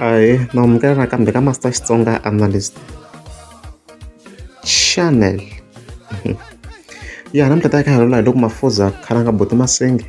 ahe mahumukelo nakambe ka master xitsonga analyst channel ya namuntlha ta ya ka halolola hi loko mafuza khalanga boti masenge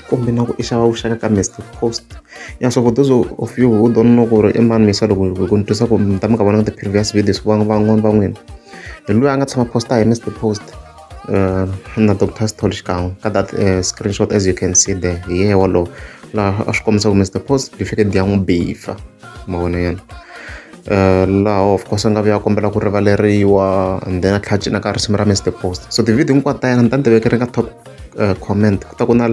kumbe na ku i xava vuxaka ka mr post ya so for those of you who don't know ku ri i mani misa loko ku ni twisa ku mi ta mi ka vona ka ti-previous videos van'wana va n'wina hi loyi a nga tshama posta hi mr post uh, in the doctor's told xikan'we ka that uh, screenshot as you can see there hi yehe wolowo laha a swi kombisa ku mr post certificate ya n'wi bifa ma vona yena Eh, laha of course a nga vuya kombela ku rivaleriwa and then a tlhela cina ka risimu ra mr post so tivhidiyo hinkwato ta yena ni ta ni tiveke ri nga top eh, comment ku ta ku na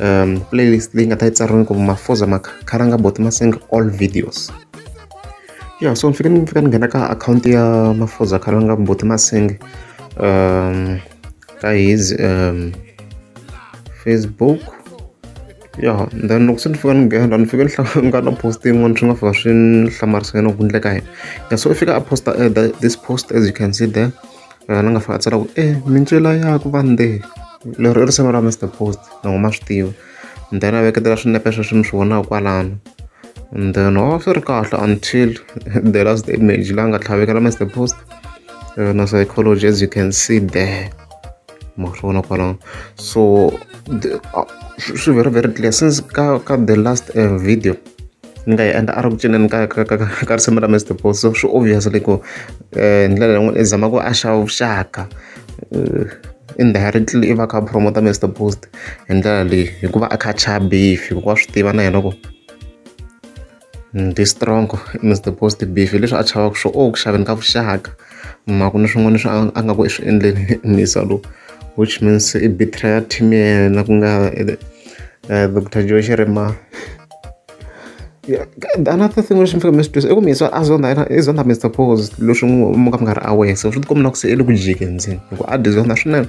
um playlist leyi nga ta yi tsariwini ku mafoza makharanga boti masinga all videos Ya so ni fike ni fika ni nghena ka akhawunti ya Mafuza Khalanga Mbuti Masinga ka his Facebook ya then loko se ni fika ni nghena ni fike ni hlangana na post yin'wana swi nga fika swi ni hlamarisa yena ku endleka yini ya so i fika a posta this post as you can see there la nga fika a tsala ku e mintswela ya ku vande leri i risimu ra Mister Post loko ma swi tiva. and then a veketela swinepe sweswi mi swi vonaka kwalano and then a oh, swi ri kahle until the last image la nga tlhavekela master post yona eh, psychology as you can see there ma swi vona kwalano so swi very very clear since ka ka the last uh, video ni nga yi endla a ri ku cineni ka ka ka ka risimu ra Mister Boss so swi obvious le ku hi ndlela yin'wani i zama ku haxa vuxaka indirectly i va a kha a promote-a Mister Boss hi ndlela leyi hikuva a kha a chaya beef hikuva wa swi tiva na yena ku ni strong Mister Boss beef hi leswi a chavaka swona o ku xaveni ka vuxaka. hi mhaka ku na swin'wana leswi a a nga ku i swi endleni Muyisa lowu which means i betrayer team ya yena ku nga doctor Joe Xirima the another thing lexi ni faneke ni xi twisisa i ku Muyisa a zonda yena i zonda Mister Pause leswi mi nga mi nga ri aware se swi ti komba na ku se i le ku jikeni ndzeni hi ku a dyi zonda swinene.